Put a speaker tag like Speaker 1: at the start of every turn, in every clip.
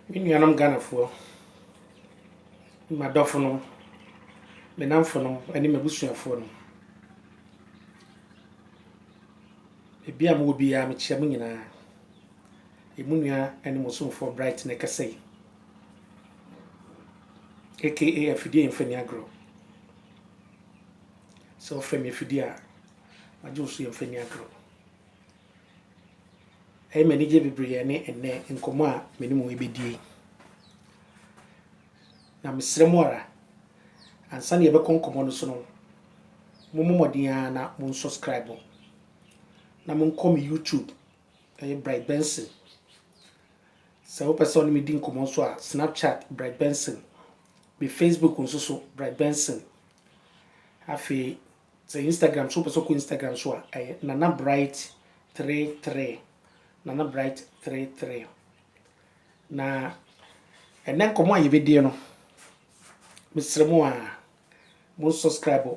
Speaker 1: Me nuanom Ghanafoɔ, m'adɔfonom, me nnamfonom ɛne m'abusuafoɔ nom. Baabi a mowɔ biara mekyia mo nyinaa. Emu nua ɛne mo somfoɔ Bright na ɛkasa yi. Aka afidie mfa ni agorɔ. Sɛ ɔfrɛ me afidie a, magye wo so yɛmfa ni agorɔ. Ɛyɛ me anigye bebree ne ɛnnɛ nkɔmmɔ a me ne mo rebɛdi yi. Na mesrɛ mo ara, ansa na yɛbɛkɔ nkɔmmɔ no so no, mommɔ mmɔden ara na mo nsubscribe na monkɔ me YouTube, ɛyɛ Bright Benson. Sɛ wopɛ sɛ ɔne me di nkɔmmɔ nso a, Snapchat Bright Benson, me Facebook nso so Bright Benson. Afei Sɛ Instagram sɛ wopɛ sɛ wokɔ Instagram so a ɛyɛ Nana Bright three three Nana Bright three three na ɛnɛ nkɔmɔ a yɛbɛdie no mesrɛ mu a mo subscribe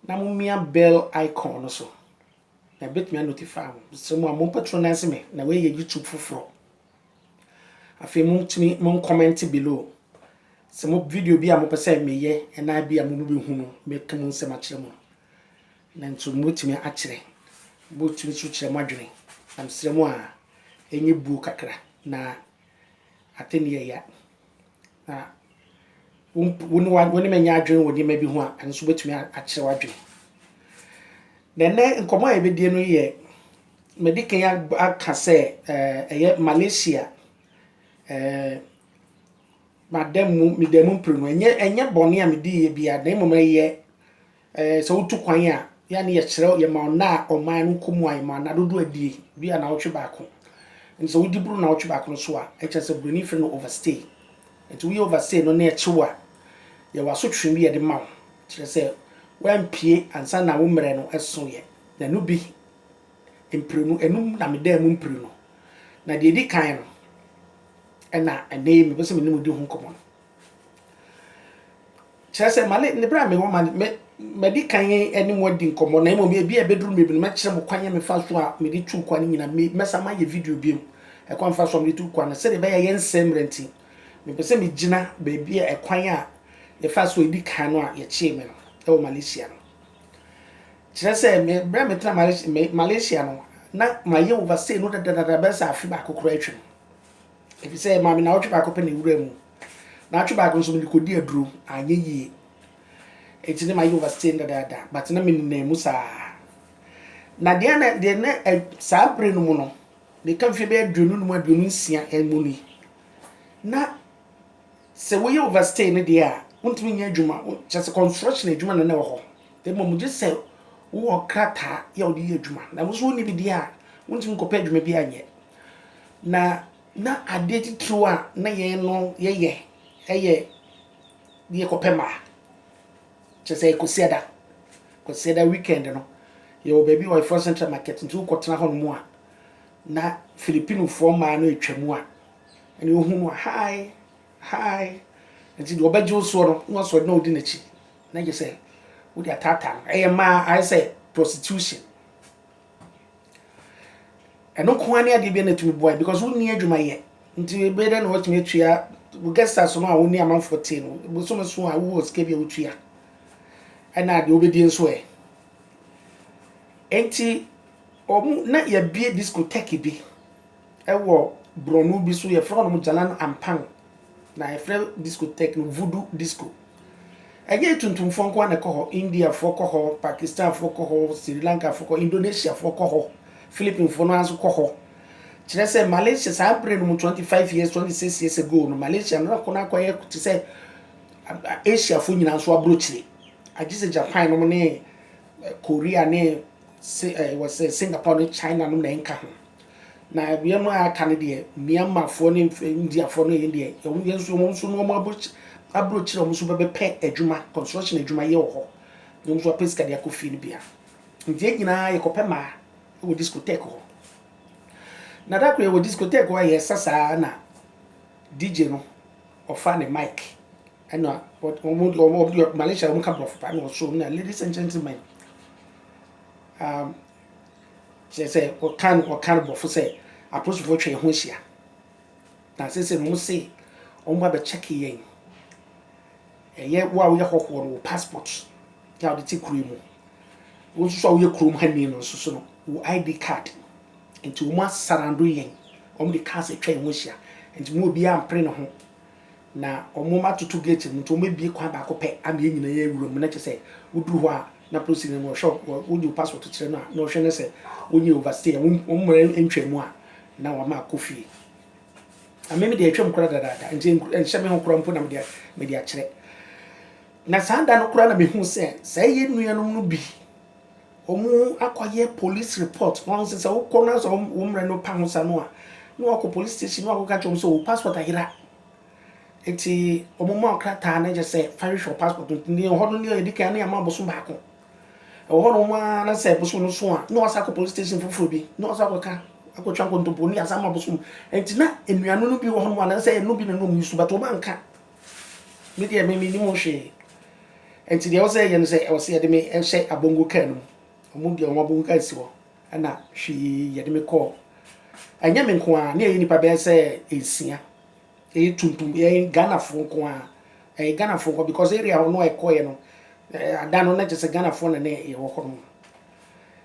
Speaker 1: na mo mia bell icon no so na ɛbɛtumi a notify mo mesrɛ mu a mo patronize me na wei yɛ YouTube foforɔ Afei motumi mo comment below sɛ mo video bi a mopɛ sɛ meyɛ ɛnaa bi a mo mo bɛhu no mɛka mu nsɛm akyerɛ mo na nso motumi akyerɛ motumi nso kyerɛ mo adwene na mesrɛ mo a ɛnyɛ buo kakra na atɛni ɛya na wo ne wo ne me nyɛ adwene wɔ nneɛma bi ho a ɛno nso bɛtumi akyerɛ w'adwene na ɛnɛ nkɔmmɔ a yɛbɛdie no yɛ madi kan aka sɛ ɛyɛ malaysia madam mu medam mu mprenu ɛnyɛ ɛnyɛ bɔne a mediiɛ biara na mmom ɛyɛ Ɛɛ, sɛ wotu kwan a, yɛ a na yɛkyerɛ, yɛma nna a ɔman no kɔ mu a, yɛma nna dodoɔ a ɛdie, bi a naawɔtwe baako. Nti sɛ wodi boro naawɔtwe baako no so a, ɛkyerɛ sɛ Buroni frɛ no overstay. Nti woyɛ overstay no na ɛkye wo a, yɛwɔ asotwe bi a yɛde ma wo, kyerɛ sɛ woampue ansa na wo mmerɛ no so yɛ. Na ɛno bi, mprenu, ɛnum na medaa mu mprenu. Na deɛ ɛdi kan no, ɛna ɛnnɛ yi mepɛ sɛ me ne mo di ho nkɔmmɔ no. Kyerɛ sɛ, ma ne bere a mewɔ ma no, madi kan ne mo adi nkɔmmɔ, na mmom ebia ɛbɛduru mmere bi no, mɛkyerɛ mo kwan a mefa so a mede tu kwa no nyinaa. Mɛsan mayɛ video bio, ɛkwan a mefa so a mede tu kwa no, sɛnea ɛbɛyɛ a yɛrensɛe mmara nti. Mepɛ sɛ migyina baabi a ɛkwan a yɛfaa so a edi kan no a yɛkyee me no wɔ Malaysia no. Kyerɛ sɛ, bere a metena Malaysia no, na mayɛ overstay no dadadada bɛyɛ sɛ afe baako koraa atwam. Efisɛ ɛmaa me naawɔtwe baako pɛ na ewuraa mu. Naawɔtwe baako nso, mede kodii aduro. Anyɛ yie. Enti na mayɛ overstay no dadaada, but na menenam mu saa. Na deɛ na deɛ na ɛ saa bere no mu no, meka mfeɛ bɛyɛ aduonu num aduonu nsia mu ni. Na sɛ woyɛ overstay no deɛ a, wontumi nyɛ adwuma. Kyerɛ sɛ construction adwuma na na ɛwɔ hɔ. Mmom gye sɛ wowɔ krataa yɛ a wode yɛ adwuma. Na wo nso wonni bi deɛ a, wontumi nkɔpɛ adwuma biara nyɛ. Na na adeɛ titiriw a na yɛn no yɛyɛ yɛ yɛkɔpɛ mmaa. Kyerɛ sɛ Kwasiada, Kwasiada weekend no, yɛwɔ baabi wɔ Ɛfrɔ Central Market nti wokɔtena hɔ nom a, na Filipinofoɔ mmaa no atwa mu a, ɛne wohu no a, hi, hi. Nti deɛ ɔbɛgye wo soɔ no, na wasɔre na ɔdi n'akyi. Na gye sɛ wode ataataa no. Ɛyɛ mmaa, ayɛ sɛ prostitution. ɛno nko ara ne adeɛ bi na ɛtumi boa because wonni adwuma yɛ nti bɛyɛ dɛ na wɔatumi atua guest house no a wɔne amanfoɔ te no bosome so a wowɔ sika bi a wotua ɛna deɛ wobɛdie nso ɛ nti wɔn na yɛbie discotheque bi Wɔ borɔno bi so yɛfrɛ hɔnom Jalan Ampang na yɛfrɛ discotheque no Voodoo Disco. Ɛnyɛ tuntumfoɔ nko ara na ɛkɔ hɔ, Indiafoɔ kɔ hɔ, Pakistanfoɔ kɔ hɔ, Sri Lankafoɔ kɔ hɔ, Indonesiafoɔ kɔ hɔ, Philippinefoɔ no ara nso kɔ hɔ. Kyerɛ sɛ Malaysia saa berɛ no mu, 25 years, 26 years ago no, Malaysia no akɔ no akɔyɛ te sɛ Asiafoɔ nyinaa nso aburokyire. Agye sɛ Japan nom ne Korea ne Singapore ne China nom na ɛnka ho. Na wiem a aka no deɛ, Myanmarfoɔ ne Indiafoɔ no yɛn deɛ, wɔn yɛn nso wɔn nso no wɔn abro abrokyire wɔn nso bɛbɛpɛ adwuma, construction adwuma yɛ wɔ hɔ. Na wɔn nso apɛ sika de akɔ fie no bia. Nti yɛn nyinaa yɛkɔpɛ maa wɔ discotheque hɔ. Na da koro yɛwɔ discotheque hɔ a yɛresa saa na DJ no ɔfa ne mic ɛna wɔn wɔn wɔn Malaysia wɔn ka borɔfo paa na wɔso na ladies and gentlemen um, Kyerɛ sɛ, wɔkaa no ɔkar bɔfo sɛ aporisifo twe hɔn ho hyia. Na sesei no, wɔse wɔba bɛkyɛke hɛn. Ɛyɛ wo a woyɛ hɔhoɔ no, wo passport a wode te kuro yi mu. Wo nso so a woyɛ kurom hani no nso so no, wo ID card. Nti wɔasarando hɛn. Wɔde cars atwa hɛn ho ahyia. Nti mu obiara ampere ne ho. Na wɔatoto gate no, nti wɔbɛbue kwan baako pɛ ama yɛn nyinaa yɛn wuram, na kyerɛ sɛ woduru hɔ a na polisini no ɔhwɛ wo, wode wo passport kyerɛ no a na ɔhwɛ no sɛ wonyɛ overstay a, wo mmara ntwa mu a na wama akɔ fie. Na me me deɛ atwam koraa dadaada, nti ɛnhyɛ me ho koraa mpo na me deɛ me de akyerɛ. Na saa da no koraa na mehu sɛ saa yɛn nuanom no bi Ɔmo akɔ yɛ polis repɔt na ɔno nso sɛ wokɔ na sɛ wo mmerɛ no pa ho sa no a na wakɔ polis station na wakɔka kyerɛ ɔmo sɛ wo paspɔt ayera nti ɔmo ma wo krataa na kyɛ sɛ fa hwehwɛ wo paspɔt no nti ɛhɔ no nea yɛdi kan na yɛama bosom baako ɛwɔ hɔ nom ara na sɛ bosom no so a na wasa akɔ polis station foforɔ bi na wasa akɔka akɔtwa nkontompo ne yasa ama bosom nti na nnuano no bi wɔ hɔ nom a na sɛ ɛno bi na na ɔmo yi so but ɔmo anka Me deɛ me mennim ho hwee. Nti deɛ ɛwɔ sɛ yɛyɛ no sɛ ɛwɔ sɛ yɛde me hyɛ abongo kaa no mu. Wɔn deɛ wɔn abongo kaa si hɔ. Ɛna hwee yɛde me kɔɔ. Ɛnyɛ me nko ara, ne ɛyɛ nipa bɛyɛ sɛ nsia. Ɛyɛ tuntum, ɛyɛ Ghanafoɔ nko ara. Ɛyɛ Ghanafoɔ nko ara because area hɔ no a ɛkɔeɛ no, ada no na kyerɛ sɛ Ghanafoɔ na na ɛwɔ hɔ nom.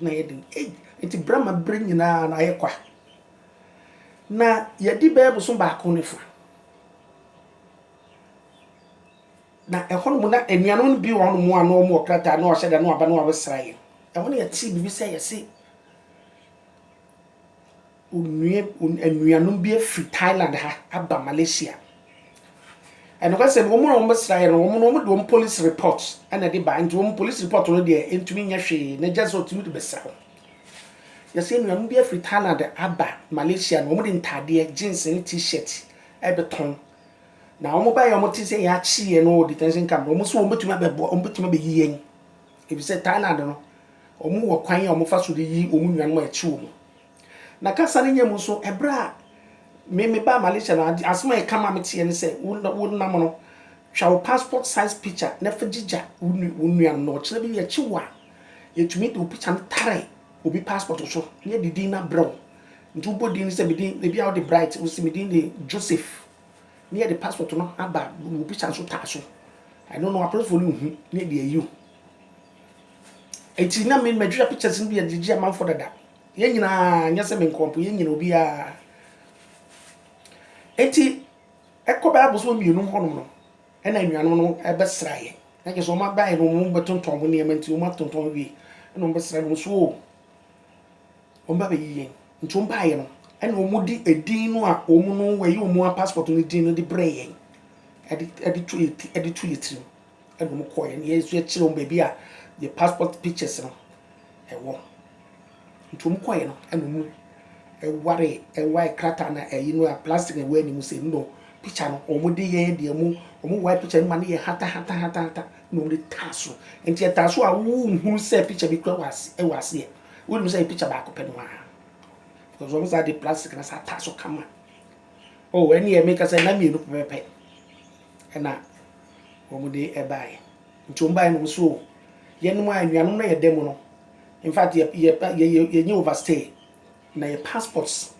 Speaker 1: Na ɛyɛ den. Ei! Enti bere ma bere nyinaa no ayɛ kwa. Na yɛadi bɛyɛ bosom baako ne fã. Na ɛhɔnom na anuanom no bi wɔ hɔnom a na wɔwɔ krataa na wɔahyɛ da na wɔaba na wɔabɛsra yɛn. Ɛhɔ na yɛtee biribi sɛ yɛse, Onua anuanom bi afiri Thailand ha aba Malaysia. Nokwasɛm no, wɔn na wɔbɛsra yɛn no, wɔn no, wɔn de wɔn police report na ɛde ba. Nti wɔn police report no deɛ ntumi nyɛ hwee, na just sɛ ɔtumi de bɛsra wɔn. Yɛsɛ anuanom bi afiri Thailand aba Malaysia na wɔn de ntaadeɛ, jeans ne T-shirt ɛbɛtɔn. Na wɔn ba yɛ wɔn te sɛ yɛakye yɛn no wɔ detention camp no, wɔn nso wɔn bɛtumi abɛboa, wɔn bɛtumi abɛyi yɛn. Efisɛ Thailand no, wɔn wɔ kwan a wɔn fa so de yi wɔn nuanom a yɛkye wɔn. Na kasa no nya mu nso, ɛberɛ a me mebaa Malaysia no, ade, asɛm a ɛka maa me teɛ ne sɛ, wo, wo nam no, twa wo passport size picture na fa gyigya wo, wo nua no, na ɔkyena bi yɛkye wo a, yɛtumi de wo picture no tare obi passport so na yɛde din no abrɛ wo. Nti wobɔ din no sɛ, me din, ebi a wode Bright, wose me din de Joseph, na yɛde passport no aba wo picture nso tare so. Ɛno no, apolisifoɔ no nhu na yɛde ayi wo. Nti na me, madwira pictures no bi yɛde gye amanfoɔ dada. Yɛn nyinaa, nyɛ sɛ me nko mpo, yɛn nyinaa, obiara. Enti, ɛkɔ bɛyɛ abosom mmienu hɔnom no, ɛna anuanom no bɛsra yɛn. Na kyerɛ sɛ wɔn abaeɛ no, wɔn bɛtontɔn wɔn nneɛma nti, wɔn atontɔn wie, ɛna wɔn bɛsra no nso o. Wɔn ba bɛyi yɛn. Nti wɔn baeɛ no, ɛna wɔn de edin no a wɔn no wɔyi wɔn passport no din no de brɛ yɛn, ɛde ɛde to yɛn ti, ɛde to yɛn tirim. Ɛna wɔn kɔɔɛ na yɛn nso yɛkyerɛ wɔn baabi a yɛ passport pictures no ɛwɔ. Nti wɔn kɔɔɛ no ɛna wɔn ɛware ɛwae krataa na ɛyi no a plastic na ɛwɔ anim sɛ no picture no wɔn de yɛn deɛ wɔn wɔn wae picture no ma no yɛ hata hata hata hata na wɔn de taa so. Nti ɛtaa so a wonhunu sɛ picture bi kura wɔ ase ɛwɔ aseɛ. Wonim sɛ ɛyɛ picture baako pɛ no ara because wɔn saa de plastic na saa taa so kama. Oh ɛneɛ meka sɛ na mmienu pɛpɛpɛ ɛna. wɔde baeɛ nti wɔn baeɛ no wɔn so yɛnom a anuanom na yɛda mu no in fact yɛ yɛ yɛ yɛ yɛnyɛ overstay na yɛ passports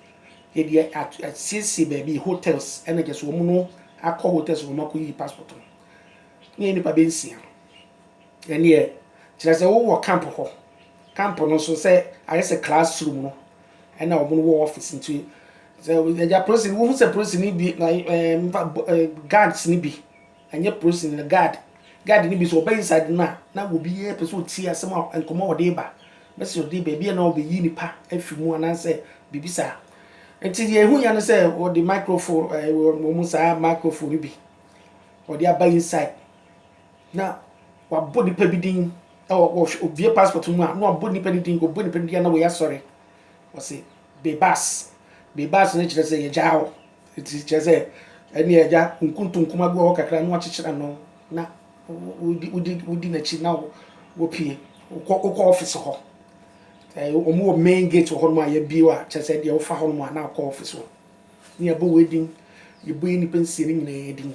Speaker 1: yɛde asiesie baabi hotels ɛna kyɛ so wɔn no akɔ hotels wɔn akɔ yi passport no ne yɛ nipa bɛ nsia ɛneɛ kyerɛ sɛ wowɔ camp hɔ camp no nso sɛ ayɛ sɛ classroom no ɛna wɔn wɔ office nti Sɛ ɛgya prosin wohu sɛ prosin ni bi na ɛɛ mfa ɛɛ guards ni bi ɛnyɛ prosin na guard guard ni bi so ɔbɛ inside na na wɔ bi yɛ pɛsɛ ɔtie asɛm a nkɔmɔ ɔde ba mɛsɛ ɔde baabi yɛ na ɔbɛ yi nipa afi mu anaasɛ biribi saa nti deɛ ehu ya ne sɛ ɔde microphone ɛɛ wɔn mu saa microphone ni bi ɔde aba inside na wabɔ nipa bi din ɛwɔ ɔhwɛ obie passport mu a na wabɔ nipa ni din ɔbɔ nipa ni din na wɔyɛ asɔre ɔsi Bebas, Bebas no kyerɛ sɛ yɛagyaa hɔ, nti kyerɛ sɛ ɛnneɛ agya nkuntunkum agu hɔ kakra na wakyekyere ano na wodi wodi wodi n'akyi na wopie wokɔ wokɔ ɔfis hɔ. Wɔn wɔ main gate wɔ hɔnom a yɛbie a kyerɛ sɛ deɛ wofa hɔnom a na wokɔ ɔfis hɔ. Ne yɛbɔ wei din, yɛbɔ yɛ nnipa nsia no nyinaa din.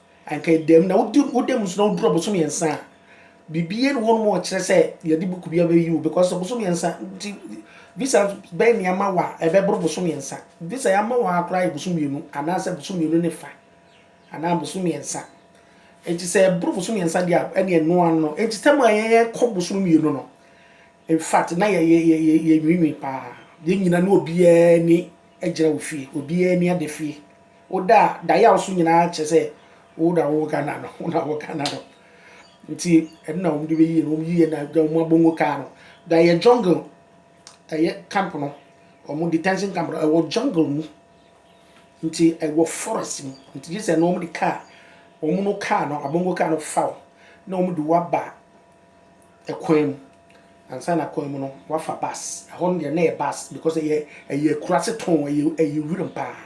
Speaker 1: Anka ɛda mu na wodi woda mu so na woduru ɔboso mmiɛnsa a biribiara ni hɔnom a ɔkyerɛ sɛ yɛde buku bi abɛyi wo because ɔboso mmiɛnsa nti visa bɛn ne ama wa ɛbɛboro boso mmiɛnsa visa yɛama wɔ ha koraa yɛ boso mmienu anaasɛ boso mmienu ne fa anaa boso mmiɛnsa nti sɛ ɛboro boso mmiɛnsa deɛ a ɛne ɛno ano no nti tam a yɛyɛ kɔ boso mmienu no in fact na yɛ yɛ yɛ yɛ nwiinwii paa yɛn nyina ne obiara ni agyina wɔ fie obiara ni ada fie Wo da a da yaw so nyinaa kyerɛ sɛ wo na wo Ghana no, wo na wo Ghana no. Nti ɛno na wɔn de bɛyie no, wɔn yie na da wɔn abongo kaa no. Da yɛ jungle, ɛyɛ camp no, wɔn detention camp no, ɛwɔ jungle mu. Nti ɛwɔ forest mu. Nti gye sɛ no wɔn de kaa, wɔn no kaa no, abongo kaa no fa wo, na wɔn de wo aba Kwan mu, ansa na kwan mu no wafa bus, ɛhɔ no deɛ na ɛyɛ bus because ɛyɛ ɛyɛ akuraase tɔnn, ɛyɛ ɛyɛ wuram pa ara.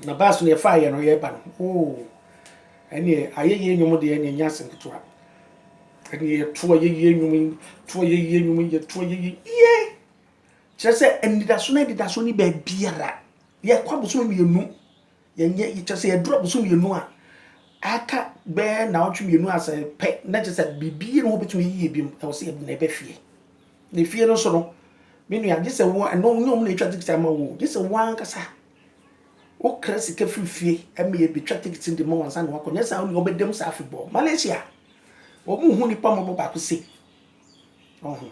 Speaker 1: Na bus no yɛfaa yɛ no yɛreba no oo, ɛnneɛ ayɛyie nnwom deɛ ɛnneɛ ɛnyɛ asɛm ketewa. Ɛnneɛ yɛto ayɛyie nnwom yi, to ayɛyie nnwom yi, yɛto ayɛyie yie, kyerɛ sɛ anidaso no anidaso nni baabiara. Yɛkɔ abosome mmienu. Yɛnyɛ, kyerɛ sɛ yɛduru abosome mmienu a aka bɛyɛ naawɔtwe mmienu asɛ pɛ na kyerɛ sɛ biribi ne ho bɛtumi yie bi mu ɛwɔ sɛ yɛde na ɛbɛ fie na efie no nso no me nua gye sɛ wo ɛno nyɛ ɔmo na ɛtwa tikiti ama wo gye sɛ wo ankasa wokra sika firi fie ɛma yɛbɛtwa tikiti de ma wɔn nsa na wakɔ nyɛ saa wo nua ɔbɛdam saa afebɔɔ Malaysia wɔn hu nipa mmɔbɔ baako se ɔho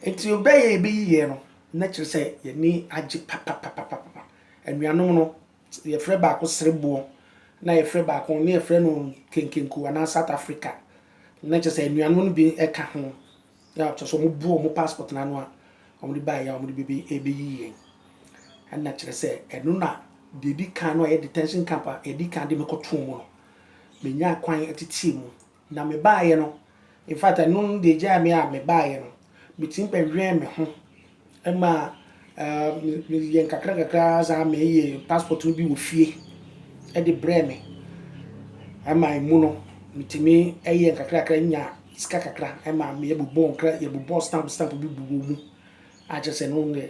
Speaker 1: nti ɔbɛyɛ ɛbɛyiyɛ no na kyerɛ sɛ yɛni agye papapapapapa Anuanom no, yɛfrɛ baako Sereboɔ, na yɛfrɛ baako, na yɛfrɛ no Kenkenku anaa South Africa. Na kyerɛ sɛ anuanom no bi ka ho, na kyerɛ sɛ wɔbu wɔn passport no ano a, wɔde baeɛ a wɔde bɛbɛ ɛrebɛyi yɛn. Ɛna kyerɛ sɛ ɛno na deɛ ɛdi kan no a ɛyɛ detention camp a ɛdi kan de me kɔtoo mu no, menyaa kwan teteɛ mu Na me baeɛ no, in fact ɛno deɛ gyae me a me baeɛ no, me tumi bɛ wɛn me ho ma me yɛ nkakra nkakra saa me yɛ passport no bi wɔ fie ɛde brɛ me ɛma emu no me tumi ɛyɛ nkakra nkakra nya sika kakra ɛma me yɛ bobɔ nkra yɛ bobɔ stamp stamp bi bobɔ mu akyɛ sɛ no deɛ.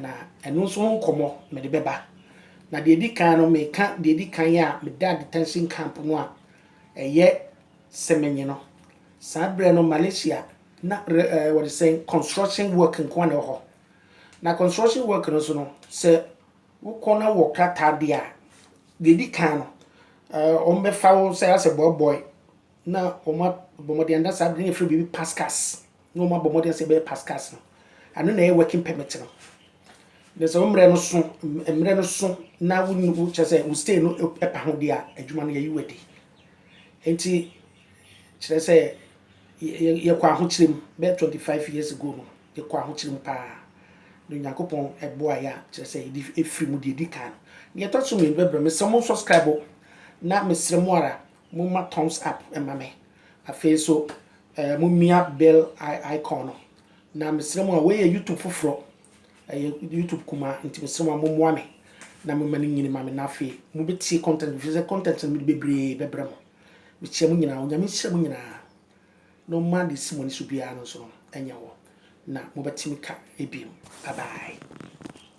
Speaker 1: Na ɛno nso ho nkɔmmɔ mede bɛba. Na deɛ ɛdi kan no, meka deɛ ɛdi kan a medaa detention camp no a ɛyɛ Semenyi no. Saa berɛ no Malaysia na wɔde sɛ construction work nko ara na ɛwɔ hɔ. Na construction work no nso no, sɛ wokɔ na wɔ krataa deɛ a, deɛ ɛdi kan no, wɔbɛfa wo sɛ asɛ boy boy na wɔabɔ mmɔden anaasɛ ade no yɛfrɛ biribi pascals na wɔabɔ mmɔden sɛ ɛbɛyɛ pascals no ɛno na ɛyɛ working permit no na sɛ wo mmerɛ no so mmerɛ no so na wokyɛ sɛ wo stay no ɛpa ho deɛ a adwuma no yɛyi wadi nti kyerɛ sɛ yɛkɔ ahokyerɛ mu bɛyɛ 25 years ago no yɛkɔ ahokyerɛ mu paa na onyankopɔn ɛboa yɛ a kyerɛ sɛ yɛde ɛfiri mu deɛ ɛdi kan no deɛ ɛtɔ so mmienu bɛbrɛ me sɛ mo subscribe na mesrɛ mo ara momma thumbs up mma me. Afei nso eh, momia bell icon no. Na mesrɛ mo a, wei yɛ YouTube foforɔ, ɛyɛ YouTube kumaa, nti mesrɛ mo a mommoa me na momma no nyini ma me, na afei mobɛtie content, mefiri sɛ content no mede bebree bɛbrɛ mo. Mekyia mo nyinaa, Onyame nhyira mo nyinaa, na ɔmma deɛ ɛsi mo ani so biara no nso no ɛnyɛ hɔ, na mobɛte me ka ebiem. Bye bye.